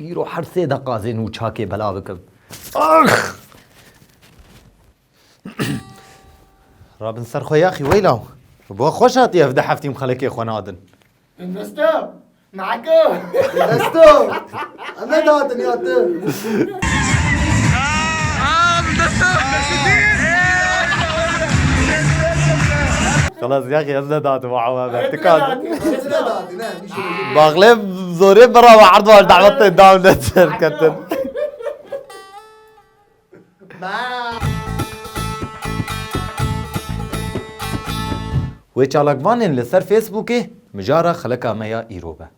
Îro her sê deqazê nû çakê belav bikim. Ax! Rabin ser xwe yaxî weyla. Bo xweş hatiye ev de heftîm xelekê xwe nadin. Investo! Nako! Investo! Em ne dadin ya tu. Xelas yaxî ez ne dadin we ewa me. Tu kadin. Baglev zorê bira ve erd wan dawetê daw ne serketin. Wê çalakvanên li ser Facebookê mijara xelika me ya îro be.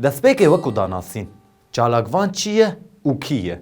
Destpêkê wekû danasîn, çalakvan çi ye û kî ye?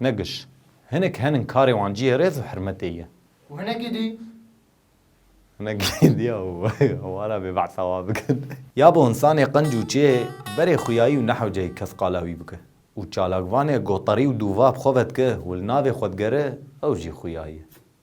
Ne giş. Hinek henin karê wan cihê rêz û hirmetê ye. Û hinekî dî? Hinekî dî ya û wara bê behsa wan bikin. Ya bo însanê qinc û çê berê xuyayî û nehewceyê kes qala wî bike. Û çalakvanê gotarî û dûva bi xwe ve dike û li navê xwe digere ew jî xuyayî ye.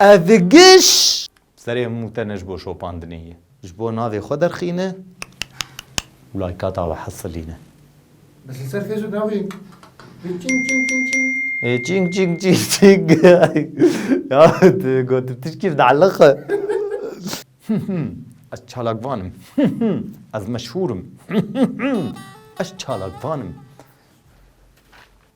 Ev giş serê hemû te ne ji bo şopandinê ye. Ji bo navê xwe derxîne û laykata we hesilîne. Ez li ser te jî navê Çing çing çing çing. Ê çing çing çing çing. Ya tu gotin tişkî bi teelliq e. Ez çalakvan im. Ez meşhûr im. Ez çalakvan im.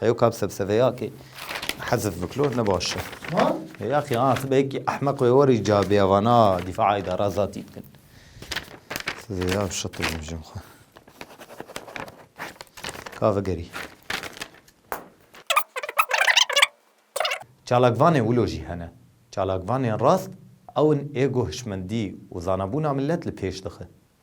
Heyo kap sebseveya ki hezf biklo ne baş e. He? Ya ki an sibe ki ahmak ve weri ca biya vana difa ida razati bikin. Size ya şatır bimjim xwe. Kave geri. Çalakvanê wilo jî hene. Çalakvanên rast ewin ego hişmendî û zanabûna milet li pêş dixe.